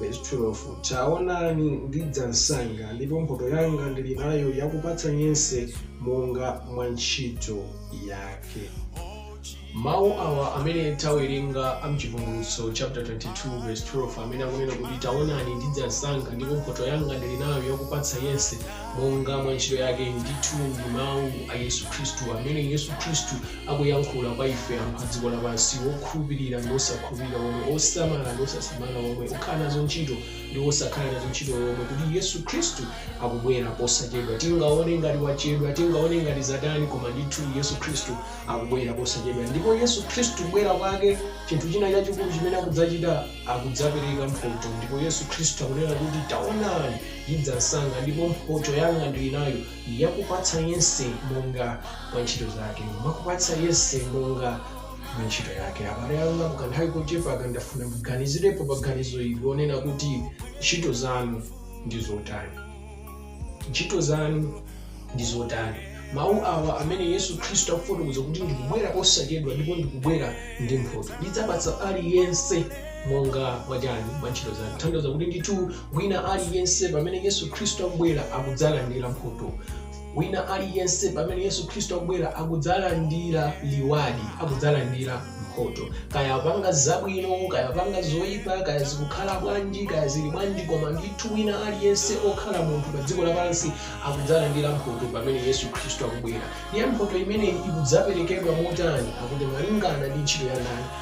Vesi 12, Taonani, ndidza msanga, ndipo mphoto yanga ndili nayo yakupatsa yense monga mwa ntchito yake. Mawu awa amene tawerenga a m'Chivumbulutso chaputala 22 vesi 12 amene akunena kuti taonani ndidza msanga ndipo mphoto yanga ndili nayo yakupatsa yense monga mwa ntchito yake, ndithu ndi mawu a Yesu Khristu amene Yesu Khristu akuyankhula kwa ife anthu a dziko lapansi okhulupirira ndi osakhulupirira omwe osamala ndi osasamala omwe okhala nazo ntchito ndi osakhala nazo ntchito omwe kuti yesu khristu akubwera posachedwa tingaone ngati wachedwa tingaone ngati zatani koma ndithu yesu khristu akubwera posachedwa ndipo yesu khristu kubwera kwake chinthu china chachikulu chimene akudzachita akudzapereka mphoto ndipo yesu khristu akunena kuti taonani ndidza msanga ndipo mphoto yanga ndili nayo yakupatsa yense monga mwa ntchito zake, mwakupatsa yense monga mwa ntchito yake. Abale anga, mu kanthawi kochepa aka ndafuna muganizirepo pa ganizo ili lonena kuti ntchito zanu ndi zotani. Ntchito zanu ndi zotani? Mawu awa amene Yesu Khristu akufotokoza kuti ndikubwera posachedwa ndipo ndikubwera ndi mphoto, ndidzapatsa aliyense monga mwa chani, mwa ntchito zake. Tanthauza kuti ndithu Wina aliyense pamene Yesu Khristu akubwera akudzalandira mphoto. Wina aliyense pamene Yesu Khristu akubwera akudzalandira liwadi, akudzalandira mphoto. Kaya apanga zabwino, kaya apanga zoyipa, kaya zikukhala bwanji, kaya zili bwanji, koma ndithu wina aliyense okhala munthu pa dziko lapansi akudzalandira mphoto pamene Yesu Khristu akubwera. Ndiye mphoto imeneyi ikudzaperekedwa motani? Akuti malingana ndi ntchito ya ndani?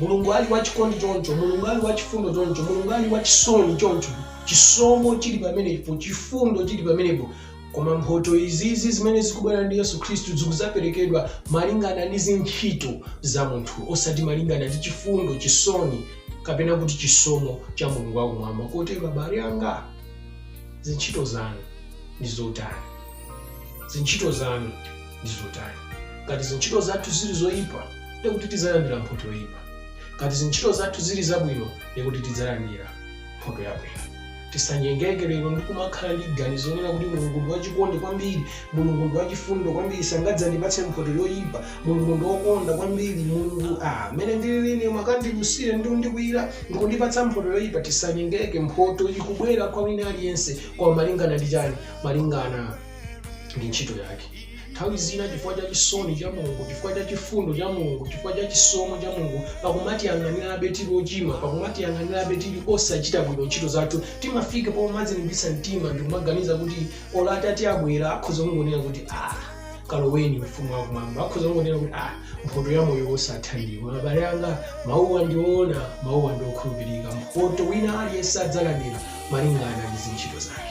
mulungu ali wachikondi choncho mulungu ali wachifundo choncho mulungu ali wachisoni choncho chisomo chili pamenepo chifundo chili pamenepo koma mphoto izizi zimene zikubwera ndi yesu khristu zikuzaperekedwa malingana ndi zintchito za munthu osati malingana ndi chifundo chisoni kapena kuti chisomo cha mulungu wakumwamba kotero abale anga zintchito zanu ndi zotani zintchito zanu ndi zotani. Ngati zintchito zathu ziri zoyipa, ndiye kuti tidzalandira mphoto yoyipa. Ngati zintchito zathu ziri zabwino, ndiye kuti tidzalandira mphoto yabwino. Tisanyengeke lero ndi kumakhala ndi ganizo lonena kuti Mulungu ndi wachikondi kwambiri, Mulungu ndi wachifundo kwambiri, sangadzandipatse mphoto yoyipa, Mulungu ndi wokonda kwambiri, Mulungu ah, mmene ndilili ine mukandilusire ndi kundikwiyira ndi kundipatsa mphoto yoyipa. Tisanyengeke, mphoto ikubwera kwa wina aliyense, koma malingana ndi chani? Malingana ndi ntchito yake. Nthawi zina chifukwa cha chisoni cha Mulungu, chifukwa cha chifundo cha Mulungu, chifukwa cha chisomo cha Mulungu, pakumatiyang'anirabe tili ochimwa, pakumatiyang'anirabe tili osachita bwino ntchito zathu, timafika pomadzilimbitsa mtima ndi kumaganiza kuti olo Atate abwera akhoza kungonena kuti ah, kaloweni ufumu wa kumwamba akhoza kungonena kuti ah, mphoto ya moyo wosatha ndiwo abale anga mawuwa ndi oona mawuwa ndi okhulupirika mphoto wina aliyense adzalandira malingana ndi zintchito zake.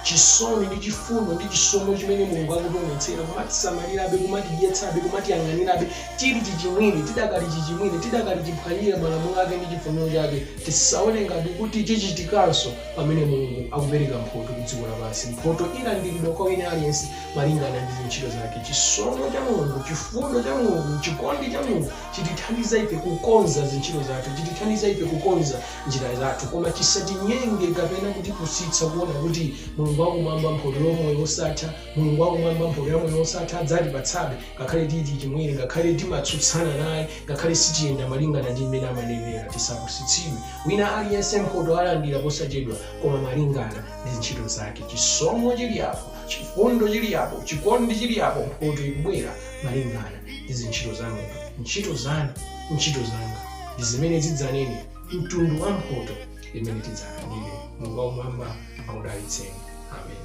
Chisoni ndi chifundo ndi chisomo chimene Mulungu akutionetsera kumatisamalirabe, kumatidyetsabe, kumatiyang'anirabe tili chichimwire, tidakali chichimwire, tidakali chiphwanyire malamulo ake ndi chifuniro chake, tisaone ngati kuti chichitikanso pamene Mulungu akupereka mphoto ku dziko lapansi. Mphoto ilandiridwa kwa wina aliyense malingana ndi zintchito zake. Chisomo cha Mulungu, chifundo cha Mulungu, chikondi cha Mulungu chitithandiza ife kukonza zintchito zathu, chitithandiza ife kukonza njira zathu, koma chisatinyenge kapena kutipusitsa kuona kuti Mulungu wakumwamba, mphoto ya moyo wosatha, Mulungu wakumwamba, mphoto ya moyo wosatha adzatipatsabe ngakhale tili chichimwire, ngakhale timatsutsana naye, ngakhale sitiyenda malingana ndi mmene amanenera. Tisapusitsidwe. Wina aliyense mphoto alandira posachedwa, koma malingana ndi ntchito zake. Chisomo chilipo, chifundo chilipo, chikondi chilipo, mphoto ikubwera malingana ndi zintchito za munthu. Ntchito zanu ntchito zanga ndi zimene zidzanene mtundu wa mphoto imene tidzalandire mulungu wakumwamba akudalitseni amen